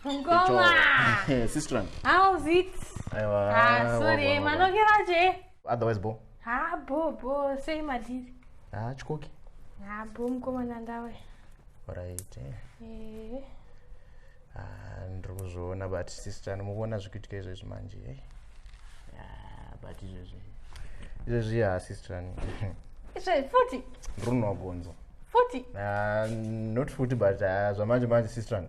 Ngoma. Sister. How's it? Aiwa. Ah, sorry, manokeraje. otherwise bo ha bo bo sei madhiri ha chikoki ha bo mukomana ndawe right eh. eh. Ah, ndiri kuzviona but sister nomukuona zvikuitika izvezvi manje e ah, but izvezvi izvezvi ha sister izvezvi futi ndiri kunwa gonzo futi ah, not futi but zvamanje manje sister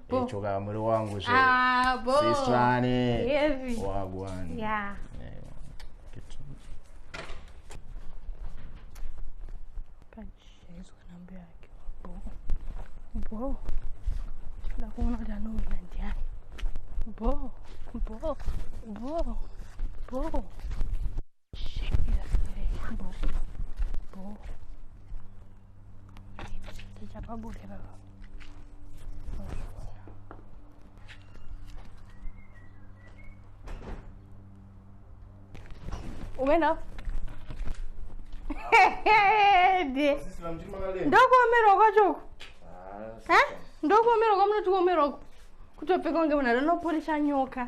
Bo. choka muri wangu zve Ah, bo. sistrane Heavy. wagwan Yeah. Ewa. Kitu. Pachaizwa namba yake. Bo. Bo. Nda kuona kuti anouya ndiani. Bo. Bo. Bo. Bo. Tichapabude baba. Umena. Ndokuomerwa kwacho uku. Ah, Ndokuomerwa kwamunoti kuomerwa uku. Kutopfeka kunge munhu anopolisha nyoka.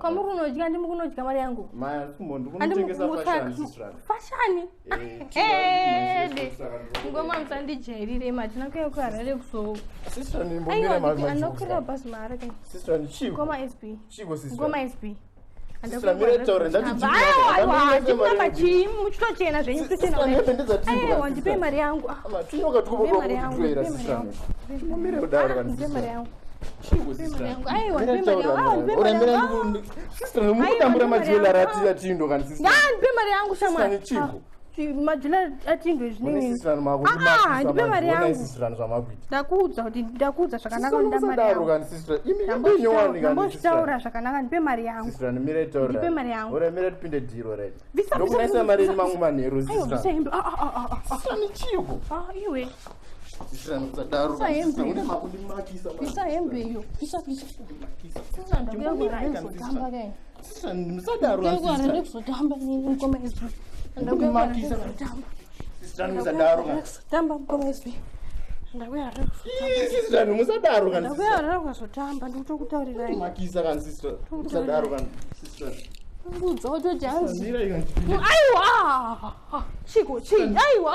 kwamuri unodya ndimi kunodya mari yangu fashani ngoma musandijairire matina kuya kuharare kuzoanokurira basi maara ngoma sb ngoma sb chii muchitochena zvenyu kuchenawandipei mari yangu mari yangu ndikutambura majela atindo kandipe mari yangu shamwari ndipe mari yangundakuudza kuti ndakuudza zvakanakandambozvitaura zvakanaka ndipe mari yangundipe mari yanguuremeraipinde dhiro redokunaisa mari yenyu mangu manheru iwe ndakuyararukazotambandikutokutaurirai aiwa chiko chii aiwa